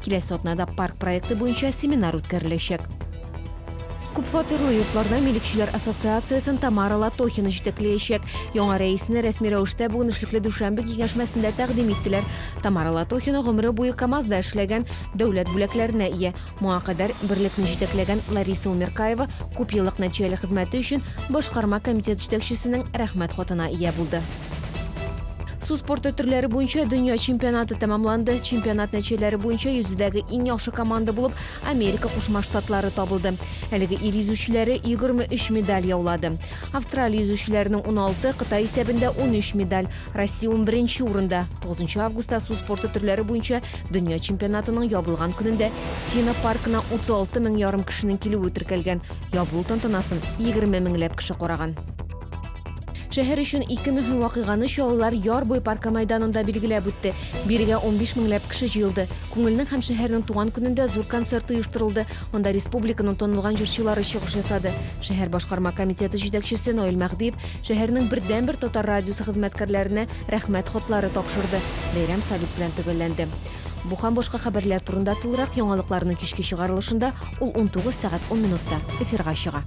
Киләсе атнада парк проекты буенча семинар үткәреләчәк. Күпфатирлы йортларда милекчеләр ассоциациясен Тамара Латохина җитәкләячәк. Яңа рәисне рәсми рәвештә бүген эшлекле дүшәмбе киңәшмәсендә тәкъдим иттеләр. Тамара Латохина гомере буе КАМАЗда эшләгән, дәүләт бүләкләренә ия. Моңа кадәр берлекне җитәкләгән Лариса Умеркаева күпьеллык нәтиҗәле хезмәте өчен башкарма комитет җитәкчесенең Рәхмәт хатына ия булды. Су спорты төрләре буенча дөнья чемпионаты тәмамланды. Чемпионат нәтиҗәләре буенча йөзүдәге иң яхшы команда булып Америка Кушма Штатлары табылды. Әлеге ил йөзүчеләре 23 медаль яулады. Австралия йөзүчеләренең 16, Кытай исәбендә 13 медаль. Россия 11 урында. 9 августта су спорты төрләре буенча дөнья чемпионатының ябылган көнендә Фина паркына 36 мең ярым кешенең килүе теркәлгән. Ябылу тантанасын 20 меңләп кеше караган. Шәһәр өчен ике мөһим вакыйганы чаллылар Яр буе паркы мәйданында билгеләп үтте. Бирегә 15 меңләп кеше җыелды. Күңелнең һәм шәһәрнең туган көнендә зур концерт оештырылды. Анда республиканың танылган җырчылары чыгыш ясады. Шәһәр башкарма комитеты җитәкчесе Наил Мәһдиев шәһәрнең бердәнбер татар радиосы хезмәткәрләренә рәхмәт хатлары тапшырды. Бәйрәм салют белән төгәлләнде. Бу һәм башка хәбәрләр турында тулырак яңалыкларның кичке чыгарылышында, ул 19 сәгать 10 минутта эфирга чыга.